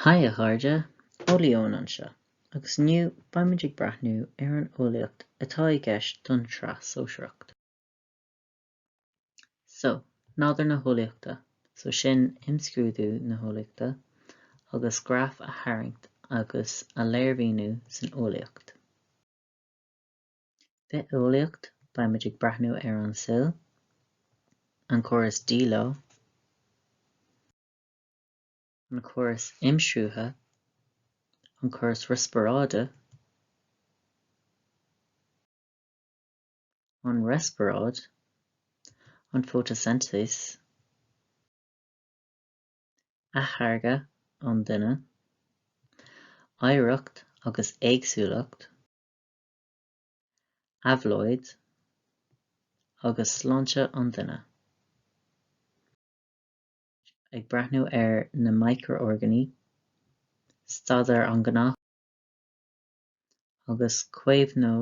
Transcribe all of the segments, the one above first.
Haigh a chairde, Eolaí Eoin anseo, agus inniu beidh muid ag breathnú ar an eolaíocht atá i gceist don tSraith Shóisearach. So, Nádúr na hEolaíochta, so sin Imscrúdú na hEolaíochta, agus graif a tharraingt agus a léirmhíniú san eolaíocht. Bitheolaíocht, Beimid ag breathnú ar an gcill, an córas díleá, an córas imshruthaithe, an córas riospráide, an riospráid, an fhótaisintéis, atáirgeadh an duine, oidhreacht agus éagsúlacht, éabhlóid agus sláinte an duine. Ag breathnú ar na miocrorgánaigh, staidéar an ghnáthóg agus caomhnú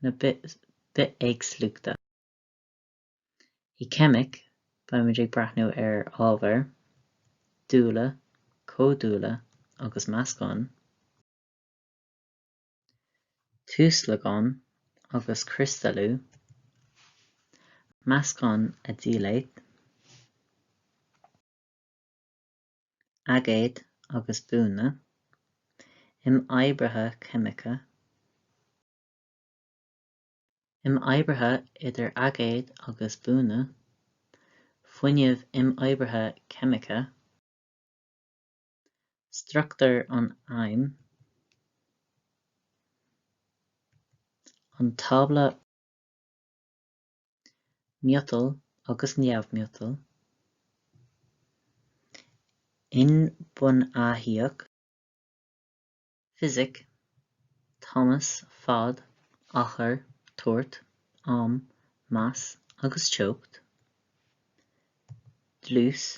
na bithéagsúlachta. I gCeimic, beimid ag breathnú ar ábhair, dúile, comhdhúile agus meascáin. tuaslagán agus criostalú, meascán a dheighilt, aigéad agus dúnadh, imoibrithe ceimiceacha, imoibrithe idir aigéid agus bunanna, fuinneamh imoibrithe ceimice, struchtúr an adaimh, an tábla miotail agus neamh-mhiotail, inbhuanaitheacht, fisic, tomhas, fad, achar, toirt, am, mais agus teocht, dlús,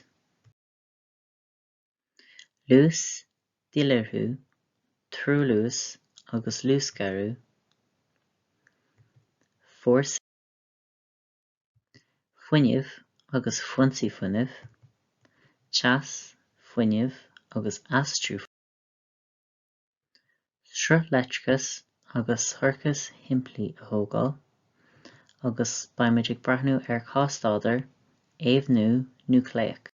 Luas, díláithriú, treoluas agus luasghéarú, fórsaí, fuinneamh agus foinsí fuinnimh, teas, fuinneamh agus aistriú fuinnimh, sruthleictreachas agus ciorcaid shimplí a thógáil, agus beimid ag breathnú ar chás-staidéar eamhnú núicléach.